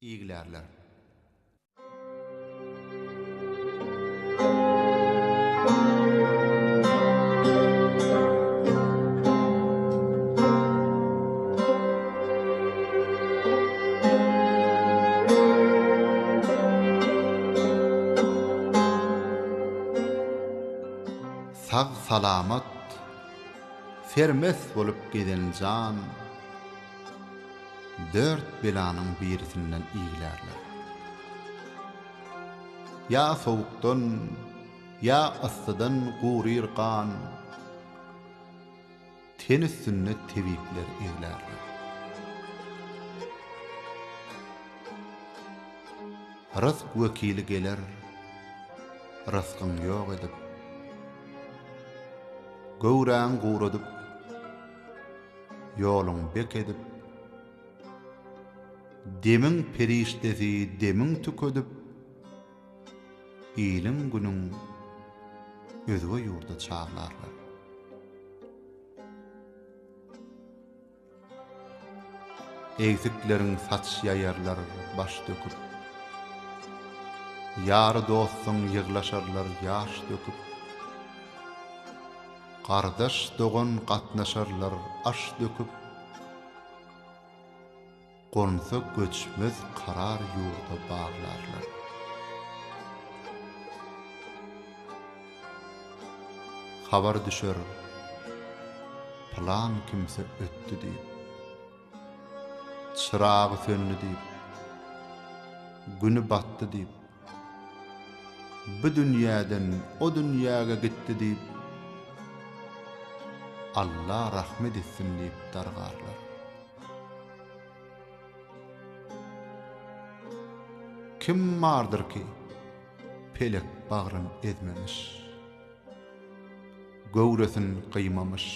Iglerler. sag-salamat, sermes bolup gezen jan. Dört belanyň birisinden iglärler. Ýa sowukdan, ýa yssydan guryr gan. Ten üstünde tebipler eglärler. Rysk wekili geler, rysgyň ýok edip. Göwräňi guradyp. Ýoluň bek edip, demiň perişdesi demiň tükedip, iliň-günüň özge ýurda çaglarlar. Egsikleriň saç ýaýarlar baş döküp, ýary dostuň ýyglaşarlar ýaş döküp. Gardaş dogan gatnaşarlar aş döküp, Gonsa göçmez karar ýurda baglarlar. Habar düşer pylan kimse ötdi diýip, Çyragy söndi diýip, güni batdy diýip, Bu dünýäden o dünýäge gitdi diýip, Alla rahmet etsin diýip dargarlar. Kim bardyr ki, pelek bagryn ezmemiş, göwresin gyýmamyş,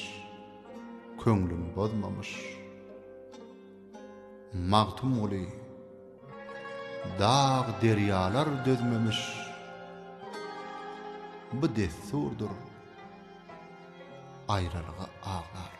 köňlün bozmamyş. Magtymguly, Dag derýalar dözmemiş bu dessurdyr aýralyga aglarlar.